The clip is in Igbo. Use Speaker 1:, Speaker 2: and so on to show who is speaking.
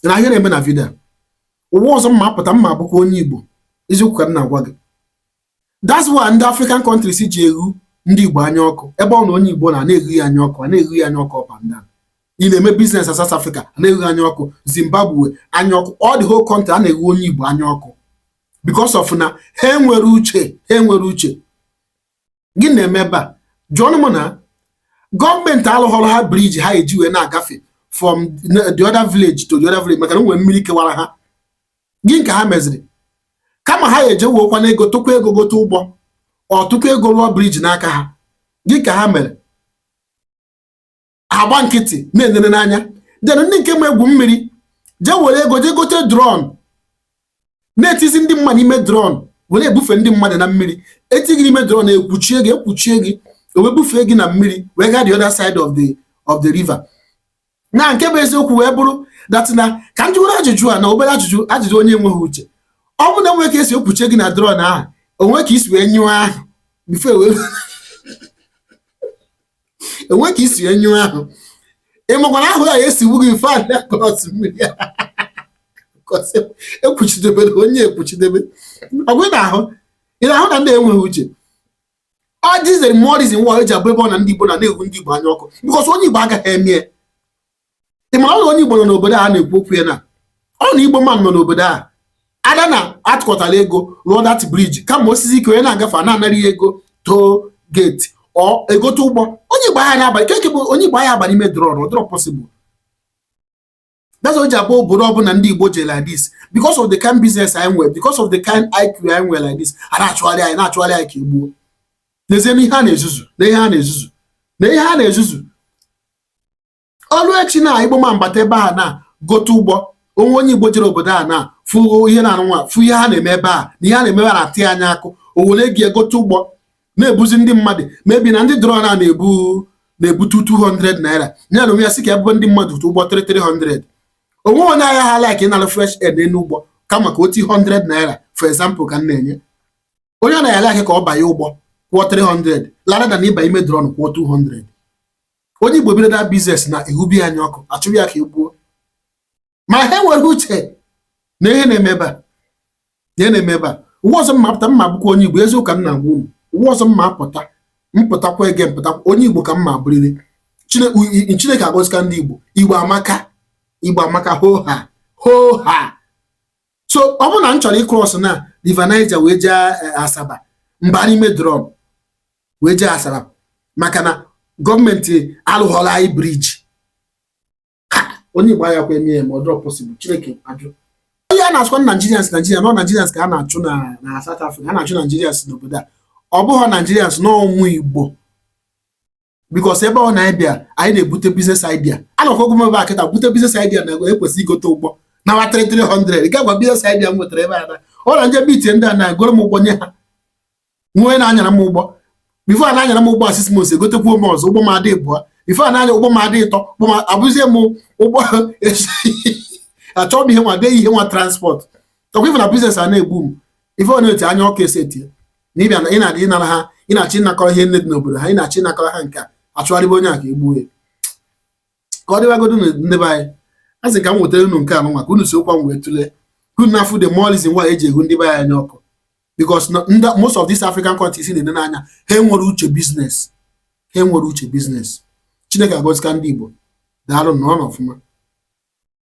Speaker 1: na ihe na-eme na video ụwa ọzọ m ma-apụta m ma-abụkwa onye Igbo eziokwu ka m na-agwa gị that's why ndị African countries ji eghu ndị Igbo anya ọkụ ebe ọ na onye Igbo nọ a na-eghu ya anya ọkụ a na-eghu ya anya ọkụ up and down ị na-eme business na South Africa a na-eghu anya ọkụ Zimbabwe anya ọkụ all the whole country a na-eghu onye Igbo anya ọkụ because of na ha enwerọ uche ha enwerọ uche gịnị na-eme ebe a jụọnụ m na gọọmenti alụghọrọ ha bridge ha eji wee na-agafe from the other village to the other village maka na e nwere mmiri kewara ha gịnị ka ha meziri kama ha eje wuokwa na ego tụkwa ego gote ụgbọ or tụkwa ego rụọ bridge n'aka ha gịnị ka ha mere agba nkịtị na-enere n'anya then ndị nke ma egwu mmiri jee were ego jee gote drum na-etizi ndị mmadụ ime drum were ebufe ndị mmadụ na mmiri e tii gị n'ime drum ekwuchie gị ekwuchie gị wee bufee gị na mmiri wee gaa the other side of the of the river now nke bụ eziokwu wee bụrụ that now ka m jụọ obere ajụjụ a na obere ajụjụ ajụjụ onye enweghị uche ọ bụ na e nwere ka e si ekwuchie gị na drum ahụ o nwee ka i si wee nyụọ ahụ before wee e nwee ka i si nyụọ ahụ ị makwa na ahụ ya-esigbu gị before a cross mmiri ekwuchidebe na onye ekwuchidebe ọ kwa ị na-ahụ ị na-ahụ na ndị a enweghị uche that is the more reason why e ji abụ ebe ọ na ndị Igbo nọ a na-eghu ndị Igbo anya ọkụ because onye Igbo agaghị eme ya ị mara ọrụ onye Igbo nọ n'obodo a na-ekwu okwu ya na ọ na Igbo man nọ n'obodo a either na a tụkọtara ego rụọ that bridge kama o sie ike onye na-agafe a na-anara ya ego toll gate or egote ụgbọ onye Igbo ahịa na-abalị keke bụ onye Igbo agaghị abalị ime drum ọ dịrọ possible that's why e ji abụ obodo ọbụla ndị Igbo jee like this because of the kind business anyị nwere because of the kind IQ anyị nwere like this a na-achụgharị anyị na-achụgharị anyị ka egbuo n'ezie na ihe a na-ezuzu na ihe a na-ezuzu na ihe a na-ezuzu ọrụ echi na igbo man bata ebe a now gote ụgbọ o nwee onye igbo jere obodo a now fụ ihe nụnwa fụ ihe ha na-eme ebe a na ihe a na-eme na atị anya akụ o were jee gote ụgbọ na-ebuzi ndị mmadụ maybe na ndị drum a na-ebu na-ebute 200 naira ya na onwe ya sị ka ebube ndị mmadụ tụ ụgbọ 300 onwe onye ahịa ha like ịnara fresh air n'elu ụgbọ kama ka o tii 100 naira for example ka m na-enye onye ọ na ya like ka ọ banye ụgbọ kwụọ 300 rather than ịba ime drum kwụọ 200 onye igbo bido that business now eghube ya anya ọkụ achụrụ ya ka egbuo ma ha enwerọ uche na ihe na-eme ebe a ihe na-eme ebe a ụwa ọzọ m ma-apụta m ma-abụkwa onye igbo eziokwu ka m na-agwa unu ụwa ọzọ m ma-apụta m pụtakwa again m pụtakwa onye igbo ka m ma-abụrịrị chineke agọzika ndị igbo igbo amaka igbo amaka hoo ha hoo ha so ọ bụrụ na m chọrọ ịkrọs na river Niger wee jee eh, asaba m baa n'ime drọm wee jee asaba maka na gọọmenti alụghọrọ anyị briji onye igbo ahakwa emie ma ọ dịrọ pọsịbụl chineke ajụ onye a na-asịkwa na naijirians naijiria na ọ naijirians ka a na-achụ na South Africa a na-achụ naijirians n'obodo a ọ bụghị naijirians na ọ ụmụ igbo bikos ebe ọ na anyị bịa anyị na-ebute biznes idea anọkwago m ebe a kịta bute biznes idea na ekwesị igote ụgbọ nwa 300 ga gwa biznes idea m nwetara ebe a na ọ na m jee biti ndị a na-egoro m ụgbọ nye ha wee na-anyara m ụgbọ bifo a na-anyara m ụgbọ a six months egotekwuo m ọzọ ụgbọ m adị ịbụọ bifo a na-anya ụgbọ m adị ịtọ ụgbọ m abụzie m ụgbọ achọghị m ihe nwa bịa ihe nwa transport ọkwa ife na biznes a na-egbu m ife ọ na-eti anya ọkụ esite na ị bịa na ị na-abịa ịnara ha ị na-achọ ịnakọrọ ihe niine dị n'obodo ha ị na-achọ ịnakọrọ ha nke a achụgharịba onye a ka e gbuo ya ka ọ dịwagodu nụ ndị be anyị asị m ka m wetara unu nke a nwa ka unu sokwa m wee tụlee ka unu na-afụ the more reason why e ji ewu ndị be anyị anya ọkụ because most of these African countries ị na-ene anya ha enwerọ uche biznes ha enwerọ uche biznes Chineke agọzika ndị Igbo daalụ nọrọnụ ọfụma